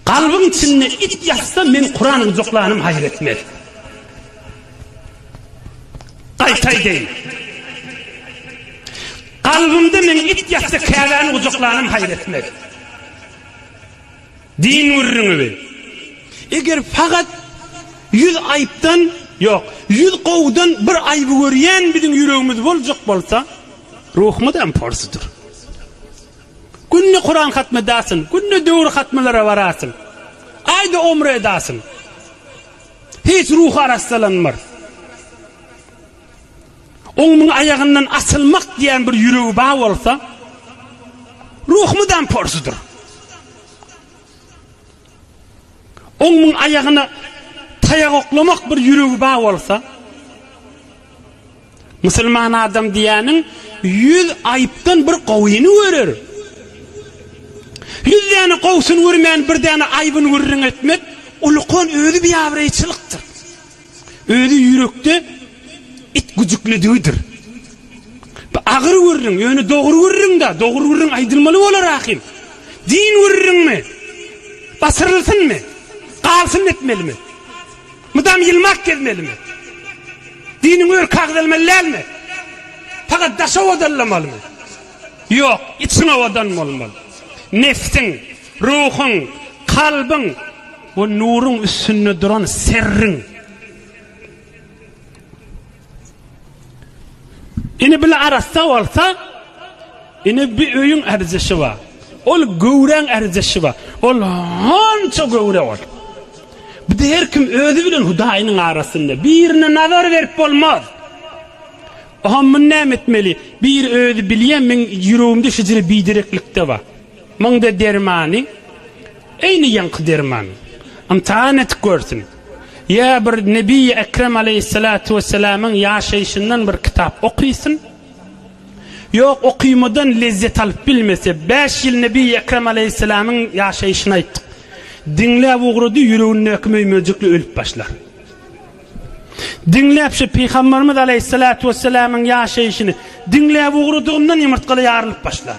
Galbyň içinde it ýatsa men Kuran gujaklanym haýyr etmez. Gaýta aýdaýyn. Galbymda men it ýatsa Käbäni gujaklanym haýyr etmez. Din gürrüňi bi. Eger fakat ýüz aýypdan, ýok, ýüz gowudan bir aýyby görýän biziň ýüregimiz boljak bolsa, ruhumyzam porsudyr. Günde Kuran hatmy edasyň, günde döwür hatmylara barasyň, aýda omra edasyň. Hiç ruhy arassalanmar. Oňmuň aýagyndan asylmak diýen bir ýüregi ba bolsa, ruh mydam porsudyr. Oňmuň aýagyna taýak oklamak bir ýüregi bar bolsa, musulman adam diýýäniň ýüz aýypdan bir gowyny görer. Ýüz däne gowusyny görmän bir däne aýbyny gürrüň etmek ulukan özi biabraýçylykdyr. Özi ýürekde it güjüklidigidir. Bu agyr gürrüň, ýöne dogry gürrüň-dä, dogry gürrüň aýdylmaly bolar ahym. Din gürrüňmi? Basyrylsynmy? Galsyn etmelimi? Mydam ýylmak gezmelimi? Diniň örki agzalmaly dälmi? Pagat daş owadalamalymy? Ýok, içiň owadan bolmaly. Nebsiň, ruhuň, kalbyň. Bu nuruň üstünde duran serriň. Ini bile arassa olsa, ini bir öyün erzişi var. Ol göwren erzişi var. Ol hanca göwre ol. Bir de her kim özü bilen hudayının arasında. Birine nazar verip olmaz. Oha mün ne etmeli? Bir özü bilye min yürüyümde şizire bidireklikte var. Munda dermany eýni ýaňky derman. Ymtahan edip görsün. Ýa bir Nebiýi Ekrem aleýhissalatu wessalamyň ýaşaýşyndan bir kitap okysyn. Ýok, okymadan lezzet alyp bilmese, bäş ýyl Nebiýi Ekrem aleýhissalamyň ýaşaýşyny aýtdyk. Diňläp ugrady, ýüregindäki möý-möjekli ölüp başlar. Diňläp şu Pygamberimiz aleýhissalatu wessalamyň ýaşaýşyny diňläp ugradygyndan ýumurtgaly ýarylyp başlar.